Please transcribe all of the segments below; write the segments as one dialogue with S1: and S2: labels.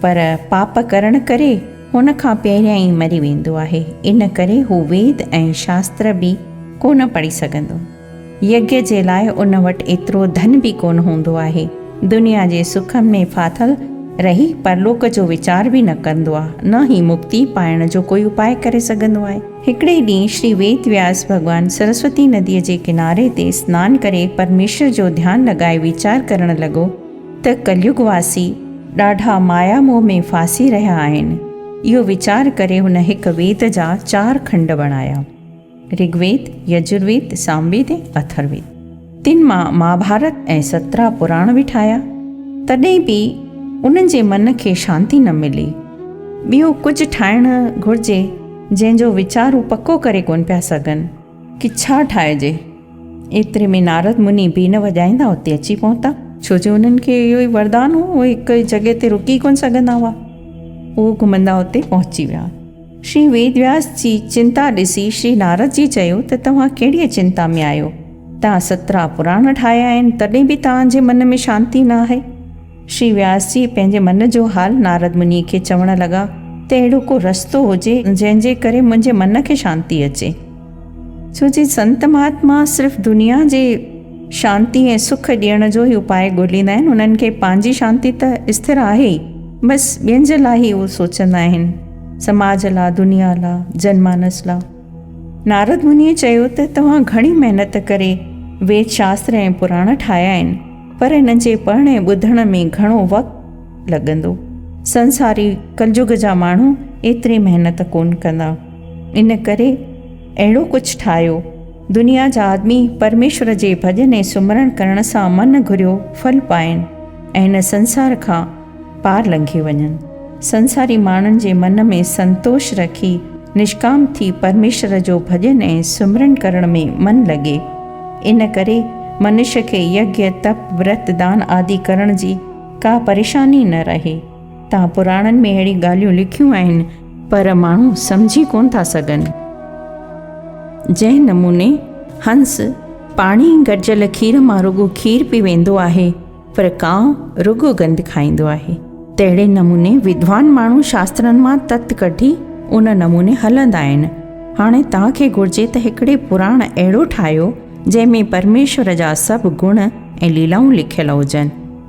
S1: پر pop ڪرڻ ڪري هن کان پهريان ئي مري ويندو آهي، ان ڪري هو ويد ۽ شاستر به ڪونه پڙهي سگهندو. يگيا جي لاء ان وٽ ايترو ڌن به ڪونه هوندو آهي. دنيا جي سکن ۾ ڦاٿل رهي پرلوڪ جو ويچار به نه ڪندو آهي، نه هي مڪتي پائڻ جو ڪوئي اپاء ڪري سگهندو آهي. هڪڙي ڏينهن شري ويد وياس ڀڳوان سرسوتي نديء جي ڪناري تي سنان ڪري پرميشور جو ڌيان لڳائي ويچار ڪرڻ لڳو، ته ڪليگ واسي ڏاڍا مايا موهه ۾ ڦاسي رهيا آهن، اهو ويچار ڪري هن هڪ ويد جا چار کنڊ بڻايا، رگ ويد، يجر ويد، سام ويد ۽ اٿر ويد. تن مان مهاڀارت ۽ سترا پراڻ به ٺاهيا، تڏهن به انهن جي من کي شانتي نه ملي. ٻيو ڪجهه ٺاهڻ گهرجي، جنهن جو ويچار هو پڪو ڪري ڪونه پيا سگهن. ڪڇا ٺاهجي. ايتري ۾ نارد مني بين وڄائيندا اتي اچي پهتا. ڇو جو انهن کي اهو ئي وردان هو، اهي هڪ ئي جڳهه تي رڪي ڪونه سگهندا هئا. اهو گهمندا اتي پهچي ويا. شري ويد وياس جي چنتا ڏسي شري نارد جي چيو ته توهان ڪهڙيء چنتا ۾ آهيو؟ توهان سترا پراڻ ٺاهيا آهن، تڏهن به توهان جي من ۾ شانتي نه آهي. شري وياس جي پنهنجي من جو حال نارد منيء کي چوڻ لڳا ته اهڙو ڪو رستو هجي جنهن جي ڪري منهنجي من کي شانتي اچي، ڇو جي سنت مهاتما صرف دنيا جي شانتي ۽ سک ڏيڻ جو ئي اپاء ڳوليندا آهن، انهن کي پنهنجي شانتي ته استر آهي ئي، بس ٻين جي لاء ئي اهو سوچندا آهن، سماج لاء، دنيا لاء، جن مانس لاء. نارد منيء چيو ته توهان گهڻي محنت ڪري ويد شاستر ۽ پراڻ ٺاهيا آهن، پر انهن جي پڙهڻ ۽ ٻڌڻ ۾ گهڻو وقت لڳندو. سنساري ڪلجگ جا ماڻهو ايتري محنت ڪونه ڪندا. ان ڪري اهڙو ڪجهه ٺاهيو. دنيا جا آدمي پرميشور جي ڀڄن ۽ سمرڻ ڪرڻ سان من گهريو ڦل پائين ۽ هن سنسار کان پار لنگهي وڃن. سنساري ماڻهن جي من ۾ سنتوش رکي نشڪام ٿي پرميشور جو ڀڄن ۽ سمرن ڪرڻ ۾ من لڳي. ان ڪري منش کي يگيا، تپ، ورت، دان آدي ڪرڻ جي ڪا پريشاني نه رهي. تان پراڻن ۾ اهڙي ڳالهيون لکيون آهن. پر ماڻهو سمجهي ڪونه ٿا سگهن. جنهن نموني هنس پاڻي گڏجل کير مان رڳو کير پي ويندو آهي. پر ڪانء رڳو گند کائيندو آهي. تهڙي نموني ودوان ماڻهو شاسترن مان تت ڪڍي ان نموني هلندا آهن. هاڻي توهان کي گهرجي ته هڪڙي پراڻ اهڙو ٺاهيو جنهن ۾ پرميشور جا سڀ گڻ ۽ ليلائون لکيل هجن،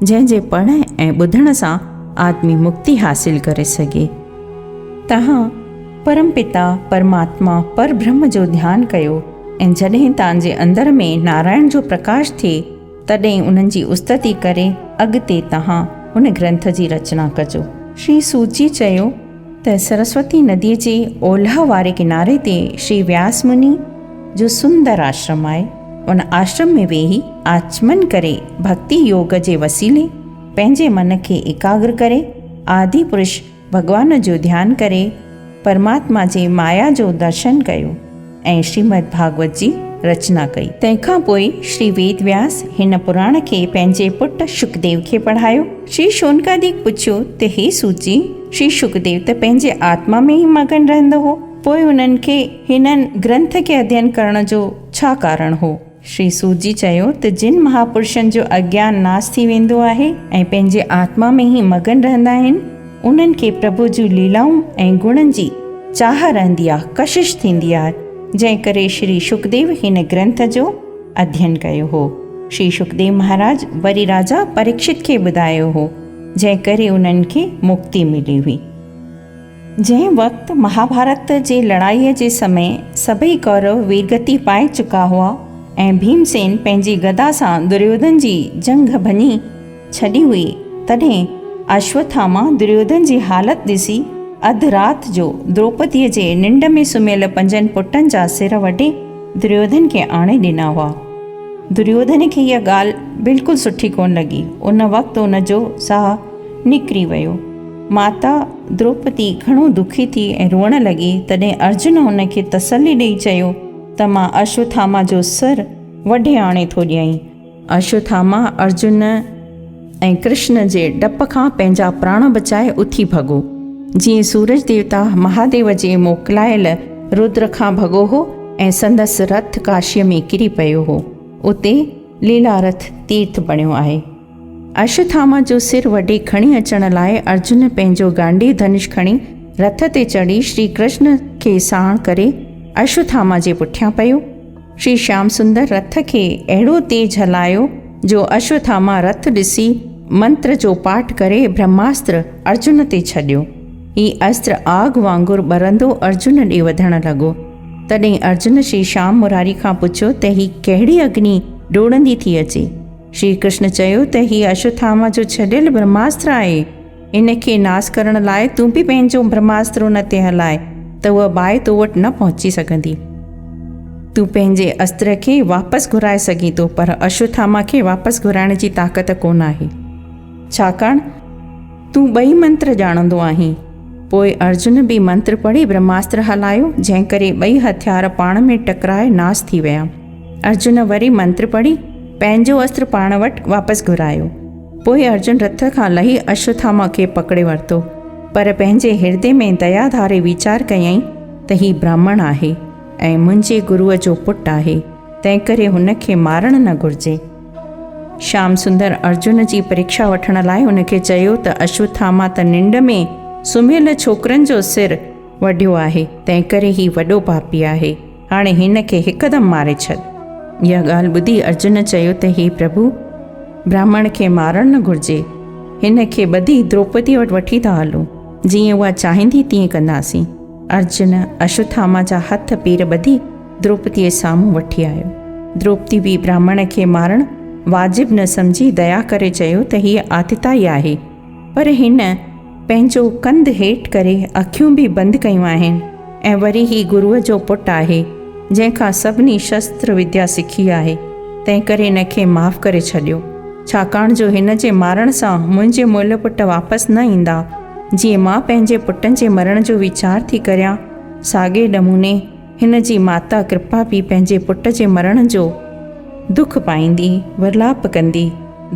S1: جنهن جي پڙهڻ ۽ ٻڌڻ سان آدمي مڪتي حاصل ڪري سگهي. توهان پرم پتا، پرماتما، پر برهم جو ڌيان ڪيو ۽ جڏهن توهان جي اندر ۾ نارائڻ جو پرڪاش ٿئي، تڏهن انهن جي استدي ڪري اڳتي توهان هن گرنٿ جي رچنا ڪجو. شري سوت جي چيو ته سرسوتي نديء جي اولهه واري ڪناري تي شري وياس مني جو سندر آشرم آهي. ان آشرم ۾ ويهي آچمن ڪري ڀڳتي يوگ جي وسيلي پنهنجي من کي ايڪاگر ڪري آدي پرش ڀڳوان جو ڌيان ڪري پرماتما جي مايا جو درشن ڪيو ۽ شريمد ڀاڳوت جي رچنا ڪئي. تنهن کان پوء شري ويد وياس هن پراڻ کي پنهنجي پٽ شڪديو کي پڙهايو. شري شونڪاديڪ پڇيو ته هي سوت جي، شري شڪديو ته پنهنجي آتما ۾ ئي مگن رهندو هو، پوء انهن کي هنن گرنٿ کي اڌين ڪرڻ جو ڇا ڪارڻ هو؟ شري سوت جي چيو ته جن مهاپرشن جو اگيان ناس ٿي ويندو آهي ۽ پنهنجي آتما ۾ ئي مگن رهندا آهن، انهن کي پرڀو جون ليلائون ۽ گڻن جي چاهه رهندي آهي، ڪشش ٿيندي آهي، جنهن ڪري شري شڪديو هن گرنٿ جو اڌين ڪيو هو. شري شڪديو مهاراج وري راجا پريڪشت کي ٻڌايو هو، جنهن ڪري انهن کي مڪتي ملي هئي. جنهن وقت مهاڀارت جي لڙائيء جي سمي سڀئي ڪورو ويرگتي پائي چڪا هئا ۽ ڀيمسين پنهنجي گدا سان دريوڌن جي جنگهه ڀڃي ڇڏي هئي، تڏهن اشوٿاما دريوڌن جي حالت ڏسي اڌ رات جو دروپديء جي ننڊ ۾ سمهيل پنجن پٽن جا سر وڍي دريوڌن کي آڻي ڏنا هئا. دريوڌن کي اها ڳالهه بلڪل سٺي ڪونه لڳي. ان وقت ان جو ساهه نڪري ويو. ماتا دروپدي گهڻو دکي ٿي ۽ روئڻ لڳي، تڏهن ارجن هن کي تسلي ڏيئي چيو ته مان اشوٿاما جو سر وڍي آڻي ٿو ڏيئين. اشوٿاما ارجن ۽ ڪرشن جي ڊپ کان پنهنجا پراڻ بچائي اٿي ڀڳو. جيئن سورج ديوتا مهاديو جي موڪلايل رودر کان ڀڳو هو ۽ سندس رٿ ڪاشيء ۾ ڪري پيو هو. اتي ليلارٿ تيرٿ بڻيو آهي. اشوٿاما جو سر وڍي کڻي اچڻ لاء ارجن پنهنجو گانڊي ڌنش کڻي رٿ تي چڙهي شري ڪرشن کي ساڻ ڪري اشوٿاما جي پٺيان پيو. شري شيام سندر رٿ کي اهڙو تيز هلايو جو اشوٿاما رٿ ڏسي منتر جو پاٺ ڪري برهماستر ارجن تي ڇڏيو. هي استر آگ وانگر ٻرندو ارجن ڏي وڌڻ لڳو. تڏهن ارجن شري شيام مراري کان پڇيو ته هي ڪهڙي اگني ڊوڙندي ٿي اچي؟ شري ڪرشن چيو ته هي اشوٿاما جو ڇڏيل برهماستر آهي. ان کي ناس ڪرڻ لاء تون به پنهنجو برهماستر ان تي هلاء ته اها باهه تو وٽ نه پهچي سگهندي. تون پنهنجي استر کي واپس گهرائي سگهين ٿو پر اشوٿاما کي واپس گهرائڻ جي طاقت ڪونه آهي. ڇاڪاڻ تون ٻئي منتر ڄاڻندو آهين. پوء ارجن به منتر پڙهي برهماستر هلايو جنهن ڪري ٻئي هٿيار پاڻ ۾ ٽڪرائي ناس ٿي ويا. ارجن وري منتر پڙهي پنهنجو اسر پاڻ وٽ واپس گهرايو. پوء ارجن رٿ کان لهي اشوٿاما کي پڪڙي ورتو، پر پنهنجي هردي ۾ ديا ڌاري ويچار ڪيائين ته هي برهمڻ آهي ۽ منهنجي گروء جو پٽ آهي، تنهنڪري هن کي مارڻ نه گهرجي. شيام سندر ارجن جي پريکشا وٺڻ لاء هن کي چيو ته اشوٿاما ته ننڊ ۾ سمهيل ڇوڪرن جو سر وڍيو آهي، تنهنڪري هي وڏو پاپي آهي. هاڻي هن کي هڪدم ماري ڇڏ. اها ڳالهه ٻڌي ارجن چيو ته هي پرڀو! براهمڻ کي مارڻ نه گهرجي. هن کي ٻڌي دروپديء وٽ وٺي ٿا هلون. جيئن اها چاهيندي تيئن ڪنداسين. ارجن اشوٿاما جا هٿ پير ٻڌي دروپديء سامهون وٺي آيو. دروپدي به براهمڻ کي مارڻ واجب نه سمجهي ديا ڪري چيو ته هيء آتتائي آهي پر هن پنهنجو ڪنڌ هيٺ ڪري اکيون به بند ڪيون آهن ۽ وري هي گروء جو پٽ آهي جنهن کان سڀني شستر وديا سکي آهي تنهنڪري هن کي معاف ڪري ڇڏيو ڇاڪاڻ جو هن جي مارڻ سان منهنجي مئل پٽ واپس نه ايندا جيئن مان پنهنجي پٽن جي مرڻ جو ويچار ٿي ڪريان ساڳئي نموني هن جي ماتا ڪرپا به پنهنجي پٽ جي مرڻ جو دک پائيندي ورلاپ ڪندي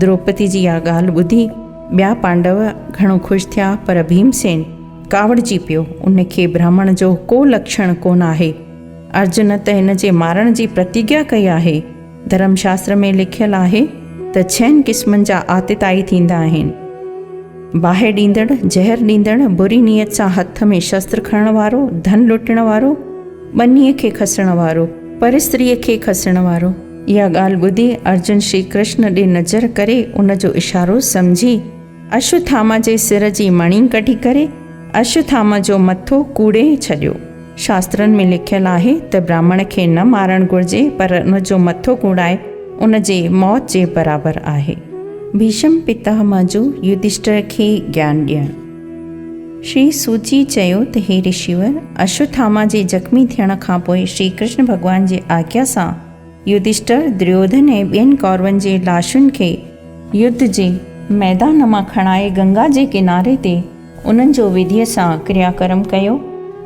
S1: دروپدي جي اها ڳالهه ٻڌي ٻيا پانڊو گهڻو خوش ٿيا پر ڀيمسين ڪاوڙجي پيو ان کي برهمڻ جو ڪو لڪشڻ ڪونه آهي ارجن ته هن جي مارڻ جي پرتيگيا ڪئي آهي ڌرم شاستر ۾ لکيل آهي ته ڇهن قسمن جا آتتائي ٿيندا آهن، باهه ڏيندڙ، زهر ڏيندڙ، بري نيت سان هٿ ۾ شستر کڻڻ وارو، ڌن لٽڻ وارو، ٻنيء کي کسڻ وارو، پرستريء کي کسڻ وارو. اها ڳالهه ٻڌي ارجن شري ڪرشن ڏي نظر ڪري ان جو اشارو سمجهي، اشوٿاما جي سر جي مڻي ڪڍي ڪري اشوٿاما جو مٿو ڪوڙي ڇڏيو. شاسترن ۾ لکيل آهي ته براهمڻ کي نه مارڻ گهرجي پر ان جو مٿو ڪوڙائي ان جي موت جي برابر آهي. ڀيشم پتاهما جو يڌشٽر کي گيان ڏيڻ. شري سوت جي چيو ته هي رشيور، اشوٿاما جي زخمي ٿيڻ کانپوء شري ڪرشن ڀڳوان جي آگيا سان، يڌشٽر، دريوڌن ۽ ٻين ڪورون جي لاشن کي يڌ جي ميدان مان کڻائي گنگا جي ڪناري تي انهن جو وڌيء سان ڪريا ڪرم ڪيو.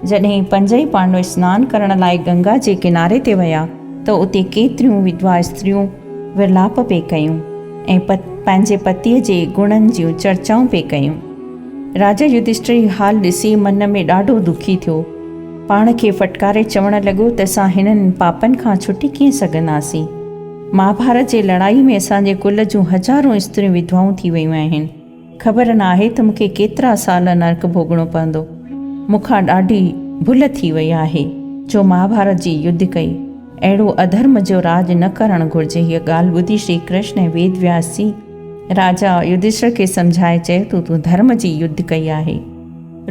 S1: جڏهن پنج ئي پانڊو سنان ڪرڻ لاء گنگا جي ڪناري تي ويا ته اتي ڪيتريون وڌوا استريون ورلاپ پئي ڪيون ۽ پنهنجي پتيء جي گڻن جون چرچائون پئي ڪيون. راجا يڌشٽر هي حال ڏسي من ۾ ڏاڍو دکي ٿيو. پاڻ کي ڦٽڪاري چوڻ لڳو ته اسان هنن پاپن کان ڇٽي ڪيئن سگهنداسين؟ مهاڀارت جي لڙائي ۾ اسان جي ڪل جون هزارون استريون وڌوائون ٿي ويون آهن. خبر نه آهي ته مون کي ڪيترا سال نرڪ ڀوڳڻو پوندو. مون کان ڏاڍي ڀل ٿي وئي آهي جو مهاڀارت جي يڌ ڪئي. اهڙو اڌرم جو راڄ نه ڪرڻ گهرجي. هيء ڳالهه ٻڌي شري ڪرشن ۽ ويد وياس جي راجا يڌشٺر کي سمجهائي چيو ته تون ڌرم جي يڌ ڪئي آهي.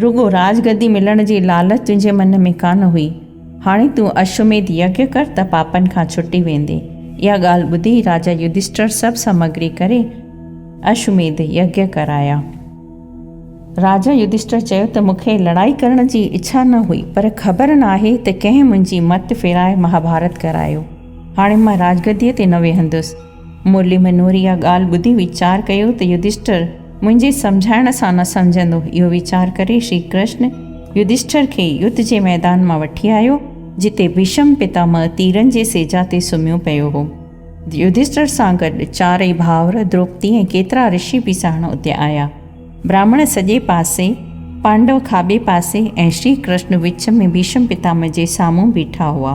S1: رڳو راڄ گدي ملڻ جي لالچ تنهنجي من ۾ ڪانه هئي. هاڻي تون اشوميڌ يگيا ڪر ته پاپن کان ڇٽي ويندين. اها ڳالهه ٻڌي راجا يڌشٽر سڀ سامگري ڪري اشوميڌ يگيا ڪرايا. راجا يڌشٽر چيو ته مون کي لڙائي ڪرڻ جي اڇا نه هئي پر خبر ناهي ته ڪنهن منهنجي مت ڦيرائي مهاڀارت ڪرايو. هاڻي مان راڄ گديء تي نه ويهندس. مرلي منور اها ڳالهه ٻڌي ويچار ڪيو ته يڌشٺر منهنجي سمجهائڻ سان نه سمجهندو. اهو ويچار ڪري شري ڪرشن يڌشٺر کي يڌ جي ميدان مان وٺي آيو، جتي ڀيشم پتامه تيرن جي سيجا تي سمهيو پيو هو. يڌشٺر سان گڏ چارئي ڀائر، دروپدي ۽ ڪيترا رشي به ساڻ اتي آيا. براهمڻ سڄي پاسي، پانڊو کاٻي پاسي ۽ شري ڪرشن وچ ۾ ڀيشم پتامه جي سامهون بيٺا هئا.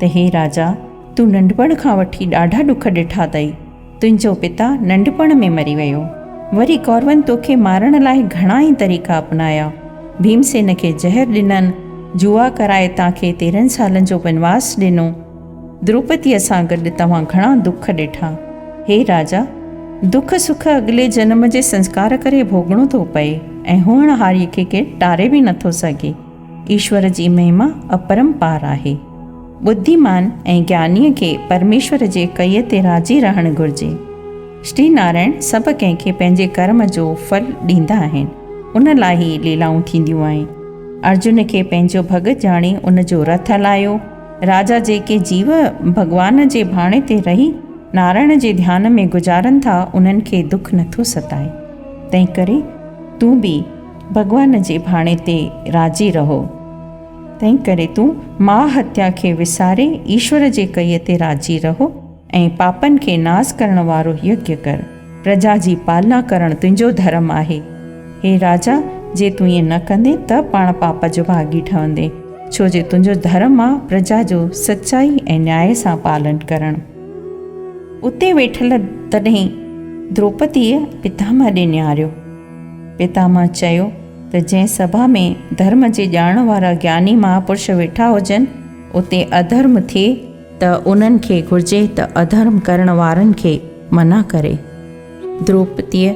S1: ته هي راجا! تون ننڍپڻ کان وٺي ڏاڍا ڏک ڏٺا اٿئي. تنهنجو پتا ننڍپڻ ۾ مري ويو. وري ڪورون توکي مارڻ لاء گهڻا ئي طريقا اپنايا. ڀيمسين کي زهر ڏنن، جوا ڪرائي تان کي تيرهن سالن جو بنواس ڏنو. دروپديء سان گڏ توهان گهڻا دک ڏٺا. هي راجا! دک سک اڳلي جنم جي سنسڪار ڪري ڀوڳڻو ٿو پئي ۽ هونهاريء کي ڪير ٽاري به نٿو سگهي. ايشور جي مهما اپرمپار آهي. ٻڌيمان ۽ گيانيء کي پرميشور جي ڪئيء تي راضي رهڻ گهرجي. شري نارائڻ سڀ ڪنهن کي پنهنجي ڪرم جو ڦل ڏيندا آهن، ان لاء هي ليلائون ٿينديون آهن. ارجن کي پنهنجو ڀڳت ڄاڻي ان جو رٿ هلايو. راجا جيڪي جيو ڀڳوان جي ڀاڻي تي رهي نارائڻ جي ڌيان ۾ گذارن ٿا، انهن کي دک نٿو ستائي. تنهنڪري تون به. ڀڳوان جي ڀاڻي تي راضي رهو. تنهن ڪري تون ماء هتيا کي وساري ايشور جي ڪئي تي راضي رهو ۽ پاپن کي ناس ڪرڻ وارو يگيا ڪر. پرجا جي پالنا ڪرڻ تنهنجو ڌرم آهي. هي راجا، جي تون ائين نه ڪندين ته پاڻ پاپ جو ڀاڳي ٺهندين، ڇو جو تنهنجو ڌرم آ پرجا جو سچائي ۽ نياء سان پالن ڪرڻ. اتي ويٺل تڏهن دروپديء پتامه ڏي نهاريو. پتامه چيو ته جنهن سڀا ۾ ڌرم جي ڄاڻ وارا گياني مهاپرش ويٺا هجن، اتي اڌرم ٿئي، ته انهن کي گهرجي ته اڌرم ڪرڻ وارن کي منع ڪري، دروپديء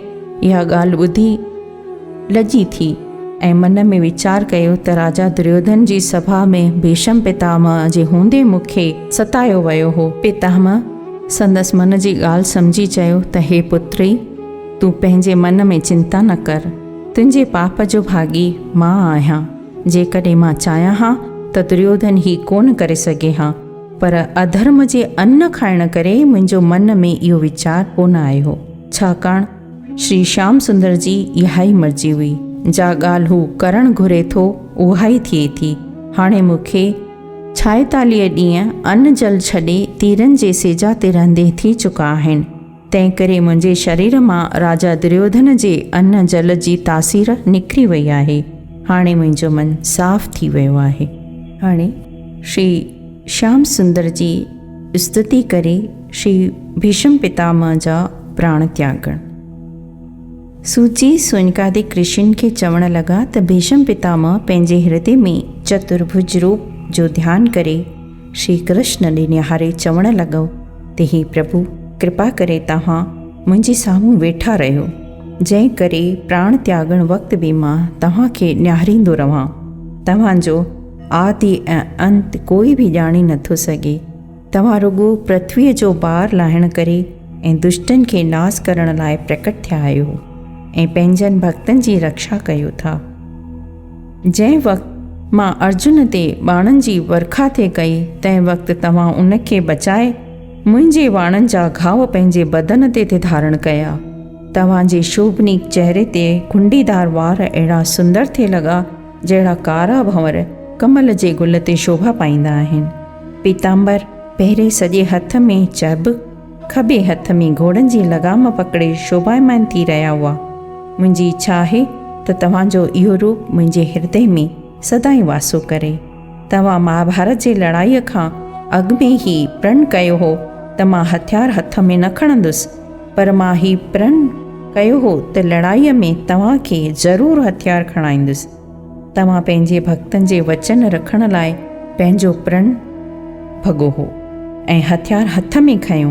S1: اها ڳالهه ٻڌي لڄي ٿي ۽ من ۾ ويچار ڪيو ته راجا دريوڌن جي سڀا ۾ ڀيشم پتامه جي هوندي مون کي ستايو ويو هو. پتامه سندس من جي ڳالهه سمجهي چيو ته هي پتري! تون پنهنجي من ۾ چنتا نه ڪر، تنهنجي پاپ جو ڀاڳي مان آهيان، جيڪڏهن مان چاهيان ها ته دريوڌن هي ڪونه ڪري سگهي ها، پر اڌرم جي ان کائڻ ڪري منهنجو من ۾ اهو ويچار ڪونه آيو، ڇاڪاڻ شري شيام سندر جي اهائي مرضي هئي، جا ڳالهه هو ڪرڻ گهري ٿو اهائي ٿئي ٿي، هاڻي مون کي ڇائيتاليهه ڏينهن ان جل ڇڏي تيرن جي سيجا تي رهندي ٿي چڪا آهن. تنهنڪري منهنجي شرير مان راجا دريوڌن جي ان جل جي تاثير نڪري وئي آهي. هاڻي منهنجو من صاف ٿي ويو آهي. هاڻي شري شيام سندر جي استتي ڪري شري ڀيشم پتامه جا پراڻ تياڳڻ. سوت جي سونڪادي ڪرشن کي چوڻ لڳا ته ڀيشم پتامه پنهنجي هردي ۾ چتر ڀج روپ جو ڌيان ڪري شري ڪرشن ڏي نهاري چوڻ لڳو ته هي پرڀو ڪرپا ڪري توهان منهنجي سامهون ويٺا رهيو جنهن ڪري پراڻ تياڳڻ وقت به مان توهان کي نهاريندو رهان توهان جو آدي ۽ انت ڪوئي به ڄاڻي نٿو سگهي توهان رڳو پرٿوي جو بار لاهڻ ڪري ۽ دشٽن کي ناس ڪرڻ لاء پرڪٽ ٿيا آهيو ۽ پنهنجن ڀڳتن جي رڪشا ڪيو ٿا. جنهن وقت مان ارجن تي ٻاڻن جي ورکا ٿي ڪئي، تنهن وقت توهان ان کي بچائي، منهنجي واڻن جا گهاء پنهنجي بدن تي ٿي ڌارڻ ڪيا. توهان جي شوڀنيڪ چهري تي ڪنڊيدار وار اهڙا سندر ٿي لڳا، جهڙا ڪارا ڀنور ڪمل جي گل تي شوڀا پائيندا آهن. پيتامبر پهري سڄي هٿ ۾ چهبڪ، کٻي هٿ ۾ گهوڙن جي لغام پڪڙي شوڀايمان ٿي رهيا هئا. منهنجي اڇا آهي ته توهان جو اهو روپ منهنجي هردي ۾ سدائين واسو ڪري. توهان مهاڀارت جي لڙائيء کان اڳ ۾ هي پرڻ ڪيو هو ته مان هٿيار هٿ ۾ نه کڻندس، پر مان هي پرڻ ڪيو هو ته لڙائيء ۾ توهان کي ضرور هٿيار کڻائيندس. توهان پنهنجي ڀڳتن جي وچن رکڻ لاء پنهنجو پرڻ ڀڳو هو ۽ هٿيار هٿ ۾ کنيو.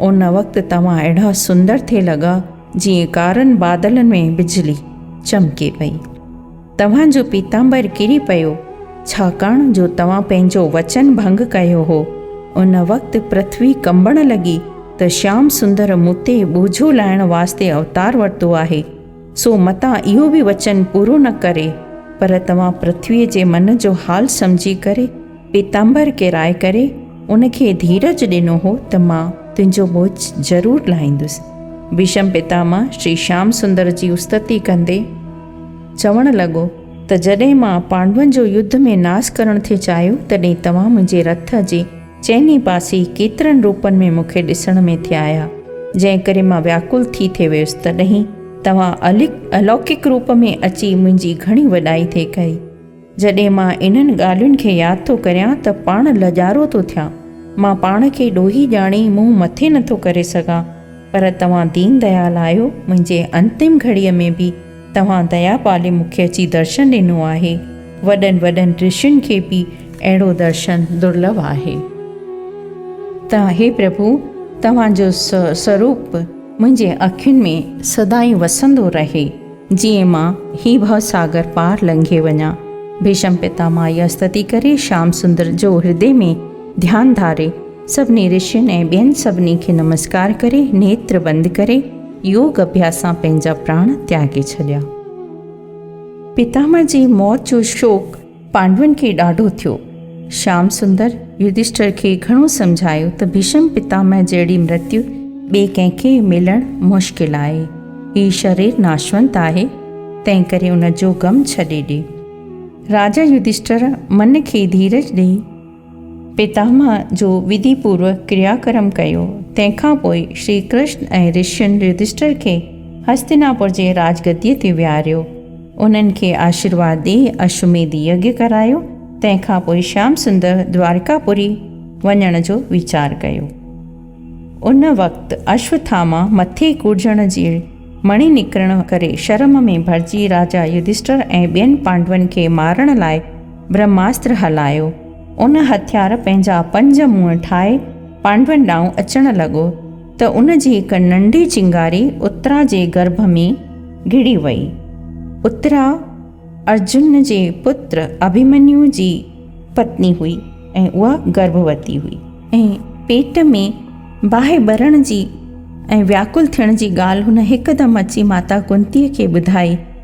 S1: ان وقت توهان اهڙا سندر ٿي لڳا جيئن ڪارن بادلن ۾ بجلي چمڪي پئي. توهان جو پيتامبر ڪري پيو، ڇاڪاڻ جو توهان پنهنجو وچن ڀنگ ڪيو هو. ان وقت پرٿوي ڪنبڻ لڳي ته شيام سندر مون تي ٻوجهو لاهڻ واسطي اوتار ورتو آهي. سو متان اهو به وچن پورو نه ڪري، پر توهان پرٿويء جي من جو حال سمجهي ڪري پيتامبر ڪيرائي ڪري ان کي ڌيرج ڏنو هو ته مان تنهنجو ٻوجهه ضرور لاهيندس. ڀيشم پتامه شري شيام سندر جي استتي ڪندي چوڻ لڳو ته جڏهن مان پانڊون جو يڌ ۾ ناس ڪرڻ ٿي چاهيو تڏهن توهان منهنجي رٿ جي چئني پاسي ڪيترن روپن ۾ مون کي ڏسڻ ۾ ٿي آيا، جنهن ڪري مان وياڪل ٿي ٿي ويس، تڏهين توهان الوڪڪ روپ ۾ اچي منهنجي گهڻي وڏائي ٿئي ڪئي. جڏهين مان انهن ڳالهين کي ياد ٿو ڪريان ته پاڻ لڄارو ٿو ٿيان. مان پاڻ کي ڏوهي ڄاڻي منهن مٿي نٿو ڪري سگهان، پر توهان دين ديال آهيو، منهنجي انتم گهڙيء ۾ به توهان ديا پالي مون کي اچي درشن ڏنو آهي. وڏن وڏن رشين کي به اهڙو درشن درلڀ آهي. ته هي پرڀو توهان جو سوروپ منهنجي اکين ۾ سدائين وسندو رهي جيئن مان هي ڀو ساگر پار لنگهي وڃان. ڀيشم پتا ماء جي استتي ڪري شيام سندر جو هردي ۾ ڌيان ڌاري. سڀني رشين ۽ ٻين سڀني کي نمسڪار ڪري، نيتر بند ڪري، يوگ اڀياس سان پنهنجا پراڻ تياڳي ڇڏيا. پتامه جي موت جو شوڪ پانڊون کي ڏاڍو ٿيو. شيام سندر، يڌشٽر کي گهڻو سمجهايو ته ڀيشم پتامه جهڙي مرتيو ٻئي ڪنهن کي ملڻ مشڪل آهي. هي شرير ناشونت آهي، تنهنڪري ان جو غم ڇڏي ڏي. راجا يڌشٽر من کي ڌيرج ڏئي، پتامه جو وڌي پورو ڪريا ڪرم ڪيو. تنهن کان پوء شري ڪرشن ۽ رشين يڌشٽر کي هستيناپور جي راج گديء تي ويهاريو. انهن کي آشيرواد ڏئي اشوميڌ يگيا ڪرايو. تنهن کان پوء شيام سندر دوارڪا پوري وڃڻ جو ويچار ڪيو. ان وقت اشوٿاما مٿي ڪوڙجڻ جي مڻي نڪرڻ ڪري شرم ۾ ڀرجي راجا يڌشٽر ۽ ٻين پانڊون کي مارڻ لاء برهماستر هلايو. ان هٿيار پنهنجا پنج منهن ٺاهي پانڊون ڏانهن اچڻ لڳو ته ان جي هڪ ننڍي چنگاري اترا جي گرڀ ۾ گهڙي وئي. اترا ارجن جي پٽ اڀيمنيو جي پتني هئي ۽ اها گرڀوتي هئي ۽ پيٽ ۾ باهه ٻرڻ جي ۽ وياڪل ٿيڻ جي ڳالهه هن هڪدم اچي ماتا ڪنتيء کي ٻڌائي.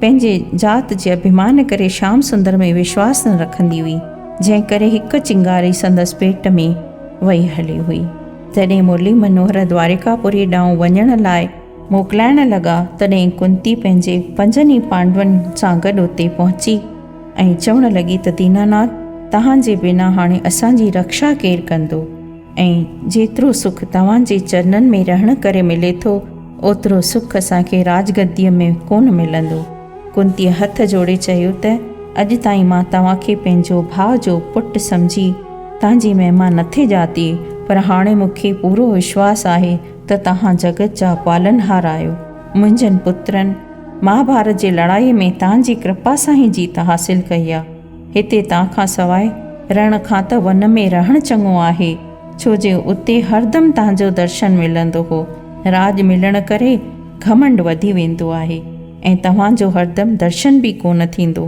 S1: پنهنجي ذات جي اڀيمان ڪري شيام سندر ۾ وشواس نه رکندي هئي، جنهن ڪري هڪ چنگاري سندس پيٽ ۾ وئي هلي هئي. جڏهن مرلي منوهر دواريڪا پوريء ڏانهن وڃڻ لاء موڪلائڻ لڳا، تڏهن ڪنتي پنهنجي پنجن ئي پانڊون سان گڏ اتي پهچي ۽ چوڻ لڳي ته ديناناٿ توهان جي بنا هاڻي اسان جي رڪشا ڪير ڪندو؟ ۽ جيترو سک توهان جي چرنن ۾ رهڻ ڪري ملي ٿو، اوترو سک اسان کي راجگديء ۾ ڪونه ملندو. ڪنتيء هٿ جوڙي چيو ته اڄ تائين مان توهان کي پنهنجو ڀاء جو پٽ سمجهي تان جي مهما نٿي ڄاتي، پر هاڻي مون کي پورو وشواس آهي ته توهان جڳت جا پالنهار آهيو. منهنجن پترن مهاڀارت جي لڙائيء ۾ تان جي ڪرپا سان ئي جيت حاصل ڪئي آهي. هتي تان کان سواء رڻ کان ته ون ۾ رهڻ چڱو آهي، ڇو جي اتي هردم تان جو درشن ملندو هو. راڄ ملڻ ڪري گهمنڊ وڌي ويندو آهي ۽ توهان جو هردم درشن به ڪونه ٿيندو.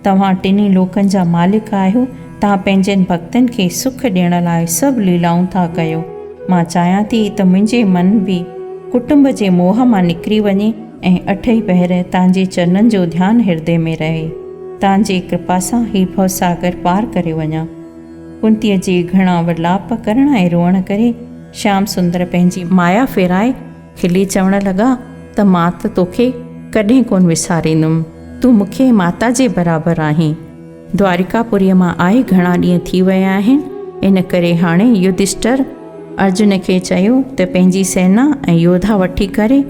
S1: توهان ٽنهي لوڪن جا مالڪ آهيو، تان پنهنجن ڀڳتن کي سک ڏيڻ لاء سڀ ليلائون ٿا ڪيو. مان چاهيان ٿي ته منهنجي من به ڪٽنب جي موهه مان نڪري وڃي. ۽ اٺئي پهر تانجي چرنن جو ڌيان هردي ۾ رهي، تانجي ڪرپا سان هي ڀوساگر پار ڪري وڃان. ڪنتيء جي گهڻا ورلاپ ڪرڻ ۽ روئڻ ڪري شيام سندر پنهنجي مايا ڦيرائي کلي چوڻ لڳا ته مان ته توکي ڪڏهن ڪونه وساريندم، تون مونکي ماتا جي برابر آهين. دواريڪا پوريء مان آئي گهڻا ڏينهن ٿي ويا آهن، ان ڪري هاڻي يڌشٽر ارجن کي چيو ته پنهنجي سينا ۽ يوڌا وٺي ڪري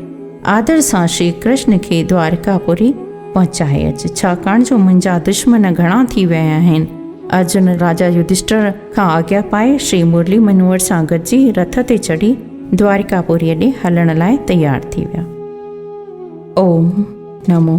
S1: آدر سان شري ڪرشن کي دواريڪا پوري پهچائي اچ، ڇاڪاڻ جو منهنجا دشمن گهڻا ٿي ويا آهن. ارجن راجا يڌشٽر کان آگيا پائي شري مرلي منوهر سان گڏجي رٿ تي چڙهي دواريڪا پوريء ڏي هلڻ لاء تيار ٿي ويا. اوم نمو.